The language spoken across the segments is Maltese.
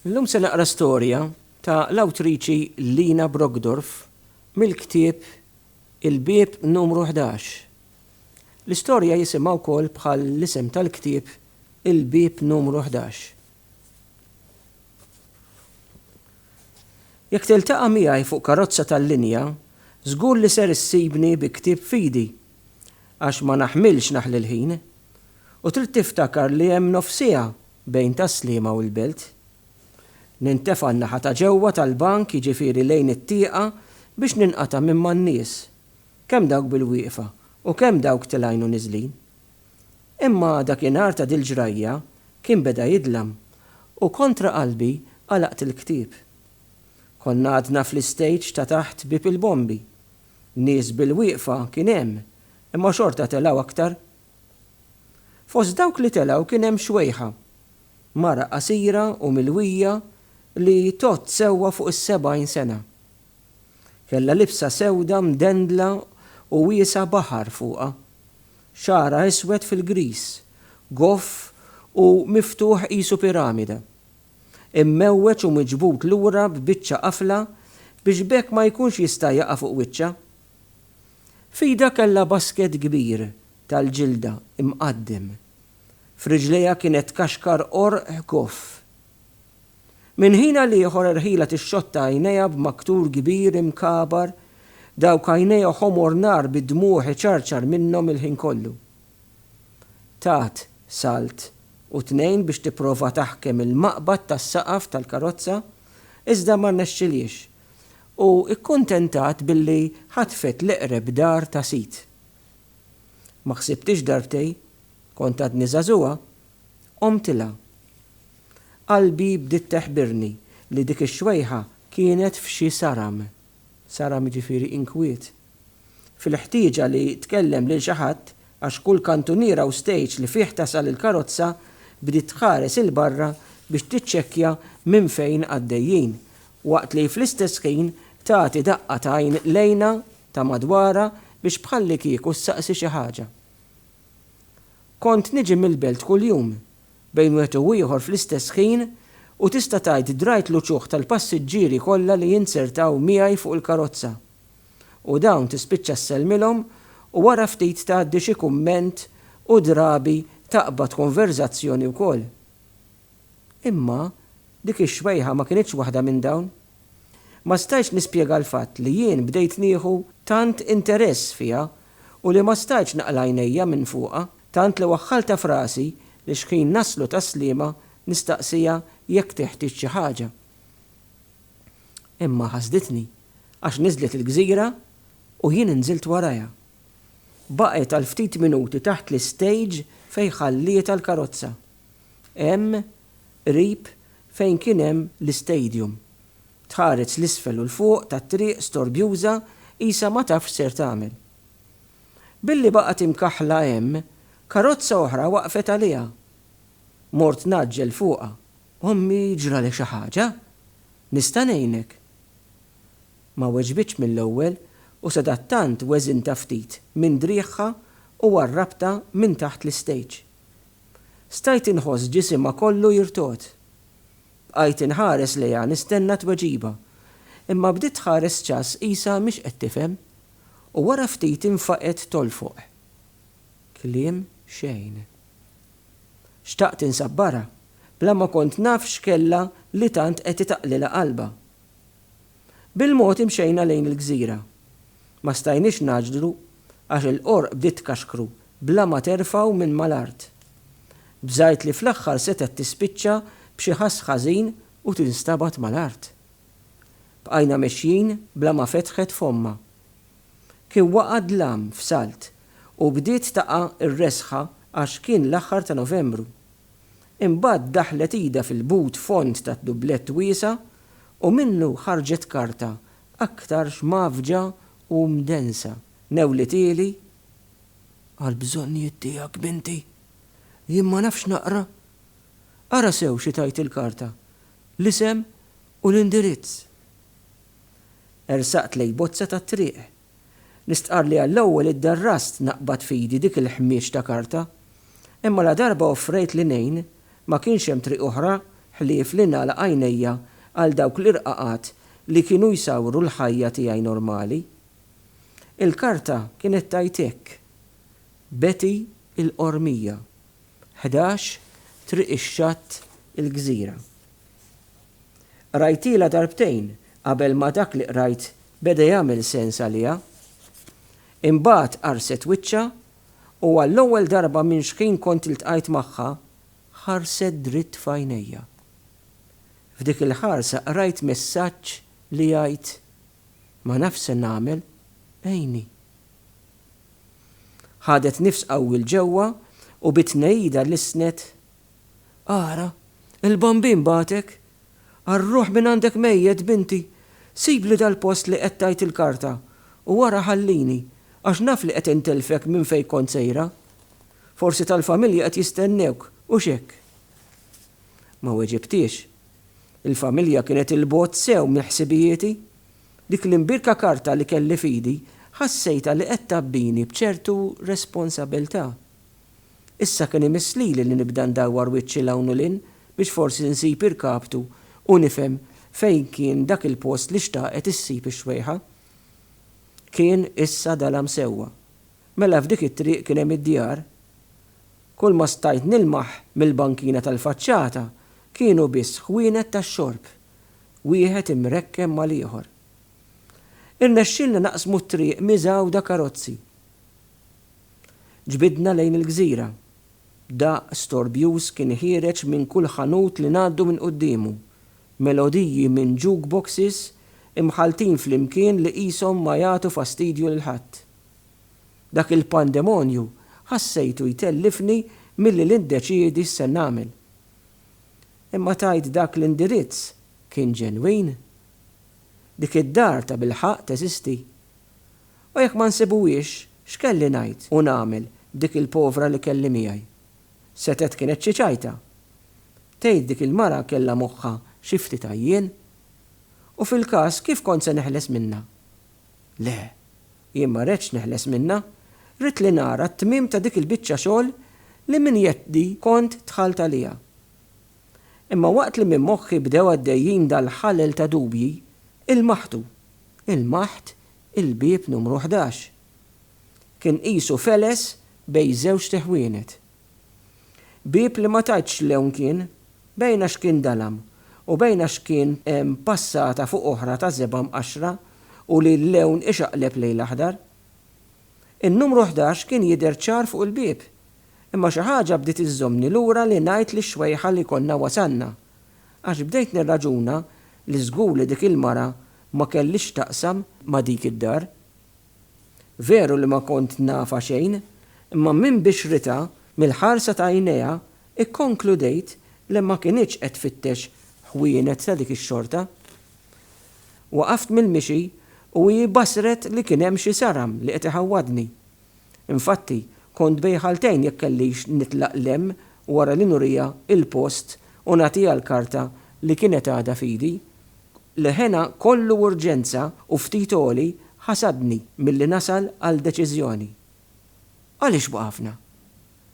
Illum se naqra storja ta' l-awtriċi Lina Brockdorff mill-ktieb Il-Bieb Numru Ħdax. L-istorja jisimha wkoll bħal l-isem tal-ktieb Il-Bieb Numru Ħdax. Jekk tiltaqa' miegħi fuq karozza tal-linja, żgur li ser issibni bi ktieb f'idi, għax ma naħmilx naħli l-ħin. U trid tiftakar li hemm nofsiegħa bejn Tas-Sliema u l-Belt. Nintefa' n-naħa ta' ġewwa tal-bank jiġifieri lejn it-tieqa biex ninqata' minn man-nies, kemm dawk bil-wieqfa u kemm dawk tilgħin u niżlin. Imma dakinhar ta' dil-ġrajja kien beda jidlam u kontra qalbi għalaqt il-ktieb. Konna għadna fl-istage ta' taħt Bieb il-Bombi Nies bil-wieqfa kien hemm, imma xorta telgħu aktar. Fost dawk li telgħu kien hemm Xwejħa, mara qasira u milwija li tgħodd sewwa fuq is-sebgħin sena. Kellha libsa sewda mdendla u wiesgħa baħar fuqha. Xagħarha iswed fil-griż, goff u miftuħ qisu piramida. immewweġ u miġbud lura b'biċċa qafla biex b'hekk ma jkunx jista' jaqa' fuq wiċċha. F'idha kellha basket kbir tal-ġilda mqaddem. F'riġlejha kienet tkaxkar qorq ħkoff. Minn ħin għal ieħor erħilha tixxotta għajnejha b'maktur kbir imkabar, dawk għajnejha ħomor nar bid-dmugħ iċarċar minnhom il-ħin kollu. Tat salt u tnejn biex tipprova taħkem il-maqbad tas-saqaf tal-karozza, iżda ma rnexxilhiex u kkuntentat billi ħatfet l-eqreb dar ta' sid. Ma ħsibtix darbtej, kont għadni żagħżugħa, għomtilha. Qalbi bdiet teħbirni li dik ix-xwejħa kienet f'xi saram. Saram jiġifieri inkwiet. Fil-ħtieġa li tkellem lil xi ħadd, għax kull kantuniera u stejġ li fih tasal il-karozza, bdiet tħares 'il barra biex tiċċekkja minn fejn għaddejjin, waqt li fl-istess ħin tagħti daqqa t'għajn lejna ta' madwarha biex bħallikieku ssaqsi xi ħaġa. Kont niġi mill-belt kuljum. bejn wieħed u ieħor fl-istess ħin u tista' tgħid drajt l-uċuħ tal-passiġġieri kollha li jinzertaw miegħi fuq il-karozza u dawn tispiċċa ssellmilhom u wara ftit tgħaddi xi kumment u drabi taqbad konverżazzjoni wkoll. Imma dik ix-xwejħa ma kinitx waħda minn dawn. Ma stajtx nispjega l-fatt li jien bdejt nieħu tant interess fiha u li ma stajtx naqla' għajnejja minn fuqha. Tant li waħħaltha f'rasi li xħin naslu tas-Sliema nistaqsiha jekk teħtieġ xi ħaġa. Imma ħasditni għax niżlet il-gżira u jien nżilt warajha. Baqgħet għal ftit minuti taħt l-istejġ fejn ħallietha l-karozza. Hemm, qrib, fejn kien hemm l-istadium. Tħares 'l isfel u 'l fuq tat-triq storbjuża qisha ma tafx x'ser tagħmel. Billi baqgħet imkaħħla hemm, karozza oħra waqfet għaliha. Mort ngħaġġel fuqha. Ommi ġralha xi ħaġa? Nista' ngħinek? Ma weġbitx mill-ewwel u sadattant weżintha ftit minn driegħha u għarrabtha minn taħt l-istejġ. Stajt inħoss ġisimha kollu jirtogħod. Bqajt inħares lejha nistenna tweġiba, imma bdiet tħares ċass qisha mhix qed tifhem. u wara ftit infaqgħet tolfoq. Kliem xejn. Xtaqt insabbarha, bla ma kont naf x'kellha li tant qed itaqlilha qalbha. Bil-mod imxejna lejn il-gżira. Ma stajniex ngħaġġlu għax il-qorq bdiet tkaxkru bla ma terfgħu minn mal-art. Bżajt li fl-aħħar setgħet tispiċċa b'xi ħass ħażin u tinstabad mal-art. Bqajna mexjin bla ma fetħet fommha. Kien waqa' dlam f'salt u bdiet taqa' r-resħa għax kien l-aħħar ta' Novembru. Imbagħad daħlet idha fil-but fond tad-dublett wiesa' u minnu ħarġet karta aktarx mgħaffġa u mdensa. Newlithieli, Għall-bżonnijiet tiegħek, binti. Jien ma nafx naqra. Ara sew xi tgħid il-karta. L-isem u l-indirizz. Ersaqt lejn bozza tat-triq. Nistqarr li għall-ewwel iddarrast naqbad f'idi dik il-ħmieġ ta' karta. Imma ladarba offrejt li ngħin, ma kienx hemm triq oħra ħlief li nagħlaq għajnejja għal dawk l-irqaqat li kienu jsawru l-ħajja tiegħi normali. Il-karta kienet tgħid hekk, Betty il-Qormija. 11 Triq ix-Xatt il-Gżira. Qrajtilha darbtejn qabel ma dak li qrajt beda jagħmel sens għaliha. Imbagħad qarset wiċċha u għall-ewwel darba minn xħin kont iltqajt magħha ħarset dritt f'għajnejja. F'dik il-ħarsa qrajt messaġġ li jgħid, Ma nafx se nagħmel, għinni. Ħadet nifs qawwi 'l ġewwa u bi tnegħida lissnet, Ara, il-Bambin bagħtek! Arruh mingħandek mejjet, binti! Sibli dal-post li qed tgħid il-karta u wara ħallini, għax naf li qed intilfek minn fejn kont sejra. Forsi tal-familja qed jistennewk, hux hekk? Ma weġibtiex. Il-familja kienet 'il bogħod sew minn ħsibijieti. Dik l-imbirka karta li kelli f'idi ħassejtha li qed tgħabbini b'ċertu responsabilità. Issa kien imiss lili li nibda ndawwar wiċċi 'l hawn u 'l hinn biex forsi nsib irkaptu u nifhem fejn kien dak il-post li xtaqet issib ix-xwejħa. Kien issa dalam sewwa. Mela f'dik it-triq kien hemm id-djar? Kulma stajt nilmaħ mill-bankina tal-faċċata kienu biss ħwienet tax-xorb wieħed imrekken mal-ieħor. Irnexxielna naqsmu t-triq miżgħuda karozzi. Ġbidna lejn il-gżira. Daqq storbjuż kien ħiereġ minn kull ħanut li ngħaddu minn quddiemu, melodiji minn jukeboxes imħalltin flimkien li qishom ma jagħtu fastidju lil ħadd. Dak il-pandemonju ħassejtu jtellifni milli nindeċiedi x'se nagħmel. Imma tgħid dak l-indirizz kien ġenwin? Dik id-dar tabilħaqq teżisti? U jekk ma nsibuhiex, x'kelli ngħid u nagħmel b'dik il-povra li kelli miegħi? Setgħet kienet xi ċajta. Tgħid dik il-mara kellha moħħha xi ftit għajjien? U fil-każ kif kont se neħles minnha? Le, jien ma redtx neħles minnha. Ridt li nara t-tmiem ta' dik il-biċċa xogħol li minn jeddhi kont dħalt għaliha. Imma waqt li minn moħħi bdew għaddejjin dal-ħalel ta' dubji, ilmaħtu. Ilmaħt il-bieb numru ħdax. Kien qisu feles bejn żewġt iħwienet. Bieb li ma tgħidx lewn kien, bejn għax kien dalam u bejn għax kien hemm passata fuq oħra ta' żebgħa mqaxxra u li l-lewn ixaqleb lejl aħdar. In-numru ħdax kien jidher ċar fuq il-bieb, imma xi ħaġa bdiet iżżommni lura li ngħid lix-xwejħa li konna wasalna, għax bdejt nirraġuna li żgur li dik il-mara ma kellhiex x'taqsam ma' dik id-dar. Veru li ma kont nafha xejn, imma minn bixritha, mill-ħarsa ta' għajnejha, ikkonkludejt li ma kinitx qed tfittex ħwienet ta' dik ix-xorta. Waqaft mill-mixi u hi bassret li kien hemm xi saram li qed iħawwadni. Infatti, kont bejn ħaltejn jekk kellix nitlaq 'l hemm wara li nuriha il-post u nagħtiha l-karta li kienet għadha f'idi, L-hena kollu urġenza u ftit għoli ħasadni milli nasal għal deċiżjoni. Għaliex waqafna?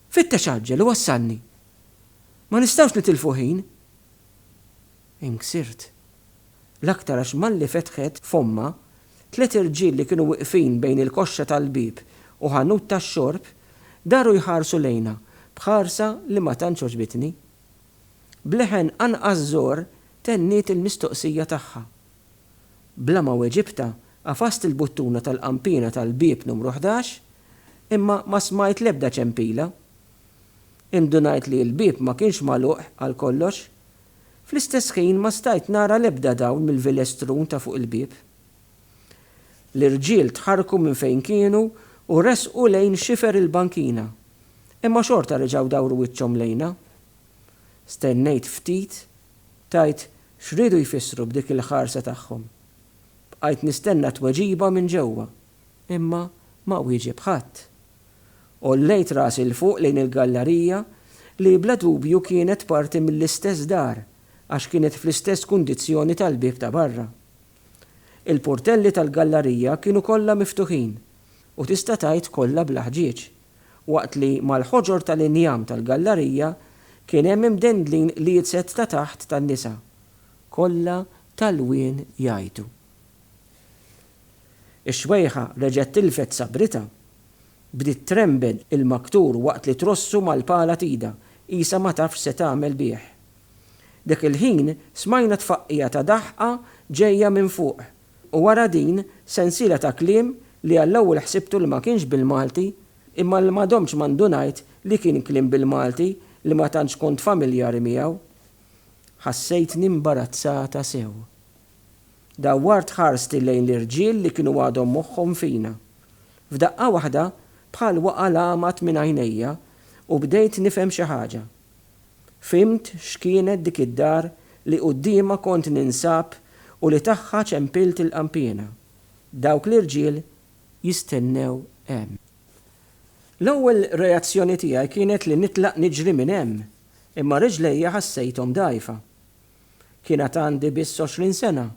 Fittex għaġġel u wassalni! Ma nistgħux nitilfu ħin! Inksirt. L-aktar għax malli fetħet fommha, tliet irġiel li kienu wiqfin bejn il-koxxa tal-bieb u ħanut tax-xorb, daru jħarsu lejna b'ħarsa li ma tantx għoġbitni. B'leħen anqas żgħor tenniet il-mistoqsija tagħha. Bla ma weġibtha, għafast il-buttuna tal-qanpiena tal-bieb numru ħdax, imma ma smajt l-ebda ċempila. Indunajt li l-bieb ma kienx magħluq għal kollox. Fl-istess ħin ma stajt nara l-ebda dawl mill-vilestrun ta' fuq il-bieb. L-irġiel tħarrku minn fejn kienu u resqu lejn xifer il-bankina, imma xorta reġgħu dawru wiċċhom lejna. Stennejt ftit tgħid x'riedu jfissru b'dik il-ħarsa tagħhom. Bqajt nistenna tweġiba minn ġewwa, imma ma wieġeb ħadd. Għollejt rasi 'l fuq lejn il-gallarija li bla dubju kienet parti mill-istess dar għax kienet fl-istess kundizzjoni tal-bieb ta' barra. Il-purtelli tal-gallarija kienu kollha miftuħin, u tista' tgħid kollha bla ħġieġ, waqt li mal-ħoġor tal-injam tal-gallarija kien hemm imdendlin liedzet ta' taħt tan-nisa, kollha t'għalwien jgħajtu. Ix-xwejħa reġgħet tilfet sabritha. Bdiet trembel il-maktur waqt li trossu mal-pala t'idha, qisha ma tafx se tagħmel bih. Dak il-ħin smajna tfaqqigħa ta' daħqa ġejja minn fuq u wara din sensiela ta' kliem li għall-ewwel ħsibtu li ma kienx bil-Malti imma li ma domtx ma ndunajt li kien kliem bil-Malti li ma tantx kont familjari miegħu. Ħassejtni imbarazzata sew. Dawwart ħarsti lejn l-irġiel li kienu għadhom moħħhom fina. F'daqqa waħda bħal waqa' l-għamad minn għajnejja u bdejt nifhem xi ħaġa. Fhimt x'kienet dik id-dar li quddiemha kont ninsab u li tagħha ċempilt il-qanpiena. Dawk l-irġiel jistennew hemm. L-ewwel reazzjoni tiegħi kienet li nitlaq niġri minn hemm, imma riġlejja ħassejthom dgħajfa. Kien għad għandi biss għoxrin sena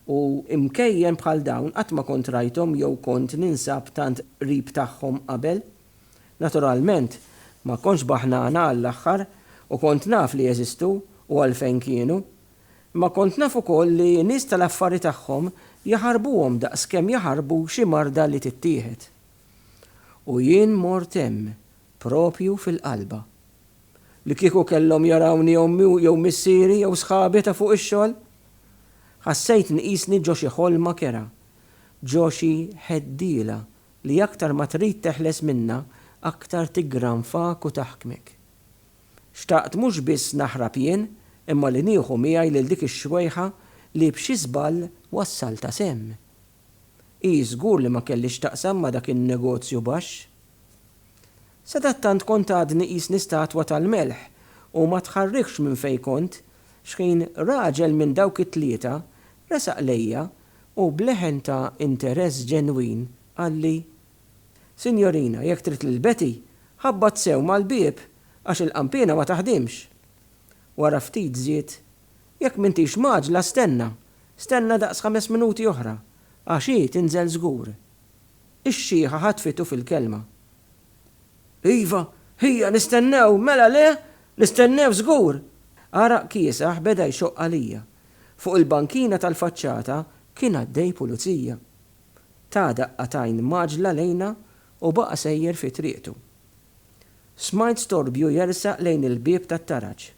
u imkejjen bħal dawn qatt ma kont rajthom jew kont ninsab tant qrib tagħhom qabel. Naturalment, ma kontx baħnana għall-aħħar u kont naf li jeżistu u għalfejn kienu. Imma kont naf ukoll li nies tal-affari tagħhom jaħarbuhom daqs kemm jaħarbu xi marda li tittieħed. U jien mort hemm, proprju fil-qalba. Li kieku kellhom jarawni ommi jew missieri jew sħabi ta' fuq ix-xogħol! Ħassejt nqisni ġo xi ħolma kerha, ġo xi ħeddiela Li aktar ma trid teħles minnha, aktar tiggranfak u taħkmek. Xtaqt mhux biss naħrab jien, imma li nieħu miegħi lil dik ix-xwejħa li b'xi żball wassaltha s'hemm. Hi żgur li ma kellhiex x'taqsam ma' dak in-negozju baxx. Sadattant kont għadni qisni statwa tal-melħ u ma tħarrikx minn fejn kont, xħin raġel minn dawk it-tlieta resaq lejja u b'leħen ta' interess ġenwin qalli, Sinjorina, jekk trid lil Betty, ħabbat sew mal-bieb għax il-qanpiena ma taħdimx. Wara ftit żied, Jekk m'intix mgħaġġla stenna, stenna daqs ħames minuti oħra, għax hi tinżel żgur. Ix-xiħa ħatfitu fil-kelma. Iva, hija, nistennew, mela le? Nistennew żgur! Għaraq kiesaħ beda jxoqq għalija. Fuq il-bankina tal-faċċata kien għaddej pulizija. Ta daqqa t'għajn mgħaġġla lejna u baqa' sejjer fi triqtu. Smajt storbju jersaq lejn il-bieb tat-taraġ.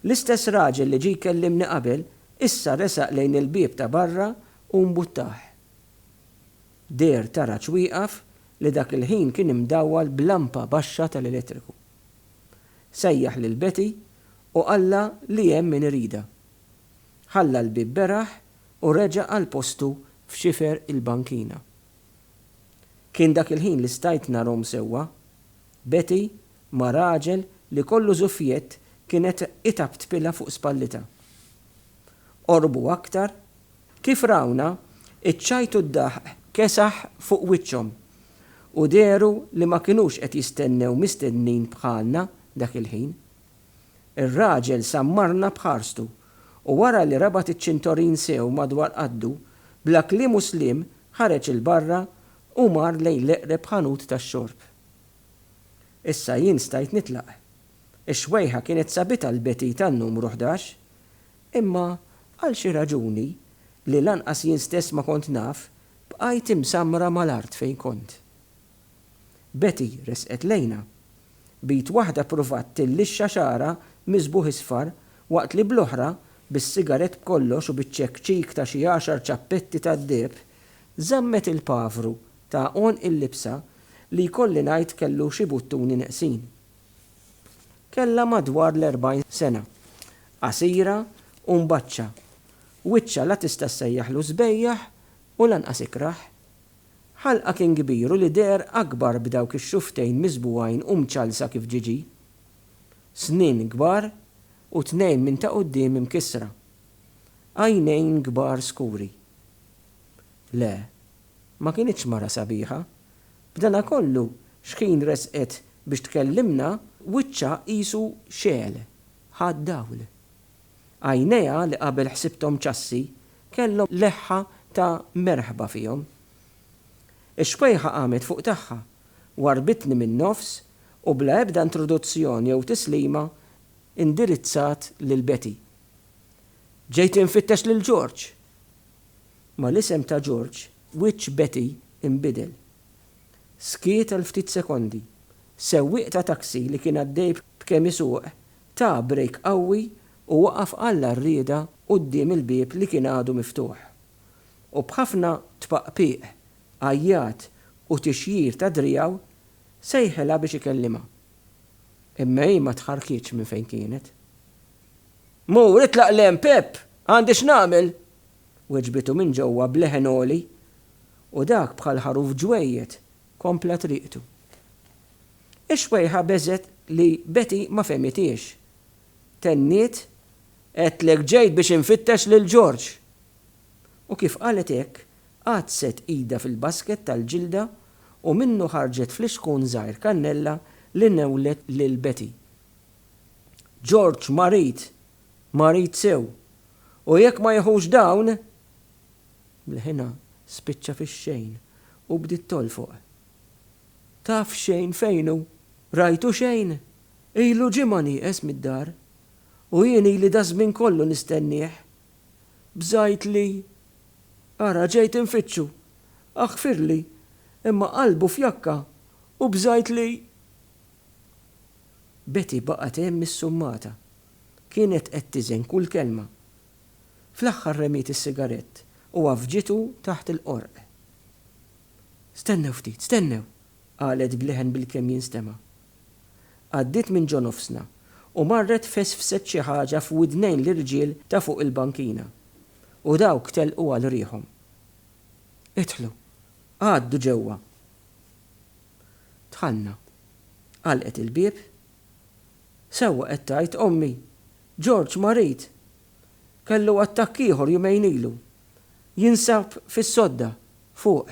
L-istess raġel li ġie jkellimni qabel issa resaq lejn il-bieb ta' barra u mbuttah. Deher tara ċwieqaf li dak il-ħin kien imdawwal b'lampa baxxa tal-elettriku. Sejjaħ lil Betty u qallha li hemm min iridha. Ħalla l-bieb beraħ u reġa' għal postu f'xifer il-bankina. Kien dak il-ħin li stajt narhom sewwa. Betty ma' raġel li kollu żuffjett kienet itaptpilha fuq spallitha. Qorbu aktar Kif rawna, iċ-ċajt u d-daħq kesaħ fuq wiċċhom, u dehru li ma kinux qed jistennew mistednin bħalna dak il-ħin. Ir-raġel sammarna b'ħarstu, u wara li rabat iċ-ċintorin sew madwar qaddu, bla kliem u sliem ħareġ 'il barra u mar lejn l-eqreb ħanut tax-xorb. Issa jien stajt nitlaq. Ix-xwejħa kienet sabitha l-Betty tan-numru ħdax, Imma għal xi raġuni, li lanqas jien stess ma kont naf, bqajt imsammra mal-art fejn kont. Betty resqet lejna. B'id waħda ppruvat tillixxa xagħarha miżbugħ isfar waqt li bl-oħra, bis-sigarett b'kollox u biċ-ċekċik ta' xi għaxar ċappetti tad-deheb, żammet il-pavru ta' għonq il-libsa li jkolli ngħid kellu xi buttuni neqsin. Kellha madwar l-erbgħin sena. Qasira u mbaċċa. Wiċċha la tista' ssejjaħlu sbejjaħ u lanqas ikrah. Ħalqha kien kbir u l-idher akbar b'dawk ix-xufftejn miżbugħin u mċallsa kif ġiġi. Snien kbar u tnejn minn ta' quddiem imkissra. Għajnejn kbar skuri. Le, Ma kinitx mara sabiħa. B'danakollu, xħin resqet biex tkellimna, wiċċha qisu xegħel, ħa d-dawl. Għajnejha li qabel ħsibthom ċassi, kellhom leħħa ta' merħba fihom. Ix-xkwejħa qamet fuq tagħha, warrbitni min-nofs u bla ebda introduzzjoni jew tislima indirizzat lil Betty. Ġejt infittex lil George! Ma' l-isem ta' George, wiċċ Betty inbidel. Skiet għal ftit sekondi. Sewwieq ta' taxi li kien għaddej b'kemm isuq ta brejk qawwi u waqaf għall-għarrieda quddiem il-bieb li kien għadu miftuħ. U b'ħafna tpaqpiq, għajjat u tixjir ta' driegħu sejħilha biex ikellimha. Imma hi ma tħarrkietx minn fejn kienet. Mur itlaq l-hemm, Pepp! Għandi x'nagħmel? weġbitu minn ġewwa b'leħen għoli, u dak bħal ħaruf ġwejjed kompla triqtu. Ix-xwejħa beżgħet li Betty ma fehmithiex. Tenniet, Għedtlek ġejt biex infittex lil George! U kif qalet hekk, għaddset idha fil-basket tal-ġilda u minnu ħarġet flixkun żgħir kannella li newwlet lil Betty. George marid! Marid sew. U jekk ma jieħux dawn! Mlħinha spiċċa fix-xejn u bdiet tolfoq. Taf xejn fejn hu? Rajtu xejn? Ilu ġimgħa nieqes mid-dar. U jien ili daż-żmien kollu nistennieh. Bżajt li. Ara ġejt infittxu. Aħfirli, imma qalbu f'jakka u bżajt li. Betty baqgħet hemm issummata. Kienet qed tiżen kull kelma. Fl-aħħar remiet is-sigarett u għaffġitu taħt il-qorq. Stennew ftit, stennew! qalet b'leħen bilkemm jinstema'. Għaddiet minn ġo nofsna u marret fesfset xi ħaġa f'widnejn l-irġiel ta' fuq il-bankina u dawk telqu għal riħhom. Idħlu, għaddu ġewwa, Dħalna. Għalqet il-bieb. Sewwa qed tgħid ommi! George marid! Kellu attakk ieħor jumejn ilu. Jinsab fis-sodda, fuq.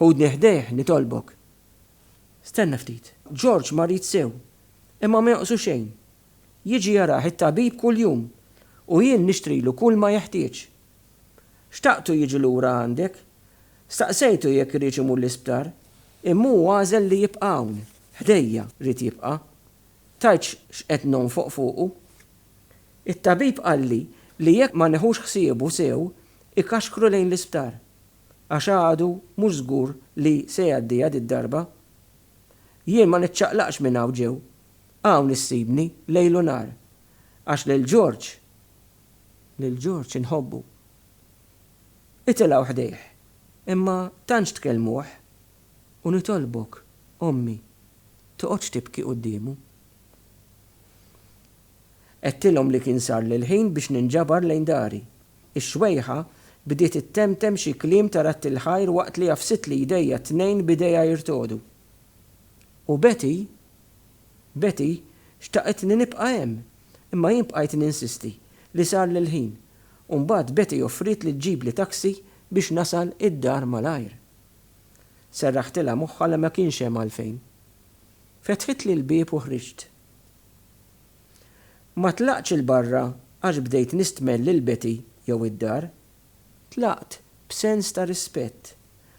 Ħudni ħdejh, nitolbok. Stenna ftit. George marid sew, imma ma jonqsu xejn. Jiġi jarah it-tabib kuljum u jien nixtrilu kulma jeħtieġ. Xtaqtu jiġi lura għandek. Staqsejtu jekk iridx imur l-isptar, imma hu għażel li jibqa' hawn, ħdejja, ried jibqa'. Tajtx x'qed nonfoq fuqu. It-tabib qalli li jekk ma neħux ħsiebu sew ikaxkru lejn l-isptar, għax għadu mhux żgur li se jgħaddiha did-darba. Jien ma niċċaqlaqx minn hawn ġew, hawn issibni lejl u nhar, għax lil George, lil George inħobbu. Itilgħu ħdejh, imma tantx tkellmuh, u nitolbok, Ommi, toqgħodx tibki quddiemu. Għedtilhom li kien sarli l-ħin biex ninġabar lejn dari. Ix-xwejħa bdiet ittemtem xi kliem ta' radti l-ħajr waqt li għafsitli jdejha t-tnejn b'idejha jirtogħdu. U Betty Betty xtaqetni nibqa' hemm, imma jien bqajt ninsisti li sarli l-ħin, u mbagħad Betty offriet li ġġibli taxi biex nasal id-dar malajr. Serraħtilha moħħha li ma kienx hemm għalfejn. Fetħitli l-bieb u ħriġt. Ma tlaqtx 'il barra għax bdejt nistmell lil Betty jew id-dar, Tlaqt b'sens ta' rispett,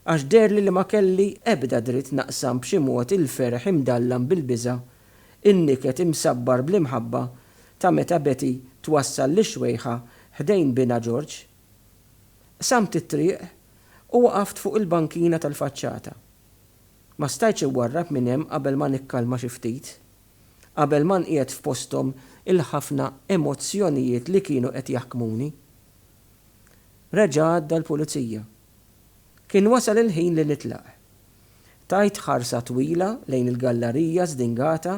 għax deherli li ma kelli ebda dritt naqsam b'xi mod il-ferħ imdallam bil-biża', in-niket imsabbar bl-imħabba ta' meta Betty twassal lix-xwejħa ħdejn binha George. Qsamt it-triq u waqaft fuq il-bankina tal-faċċata. Ma stajtx iwarrab minn hemm qabel ma nikkalma xi ftit, qabel ma nqiegħed f'posthom il-ħafna emozzjonijiet li kienu qed jaħkmuni. Reġa' għadda l-Pulizija. Kien wasal il-ħin li nitlaq. Tajt ħarsa twila lejn il-gallarija żdingata,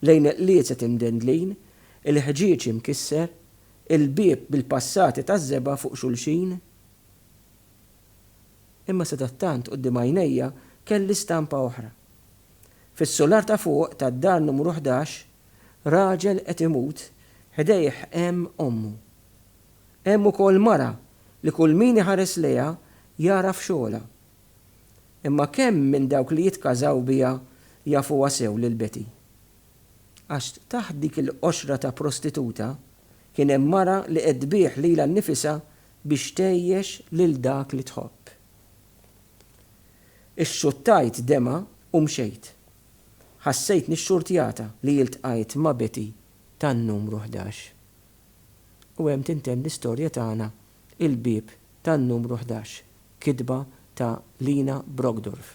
lejn il-qliezet imdendlin, il-ħġieġ imkisser, il-bieb bil-passati taż-żebgħa fuq xulxin. Imma sadattant quddiem għajnejja kelli stampa oħra. Fis-sular ta' fuq tad-dar numru ħdax, raġel qed imut, ħdejh hemm ommu. Hemm ukoll mara li kull min iħares lejha jagħraf xogħolha. Imma kemm minn dawk li jitkażaw biha jafuha sew lil Betty? Għax taħt dik il-qoxra ta' prostituta kien hemm mara li qed tbigħ lilha nnifisha biex tgħejjex lil dak li tħobb. Ixxuttajt demgħa u mxejt. Ħassejtni xxurtjata li ltqajt ma' Betty tan-numru ħdax. U hemm tintemm l-istorja tagħna Il-Bieb tan-Numru Ħdax, kitba ta' Lina Brockdorff.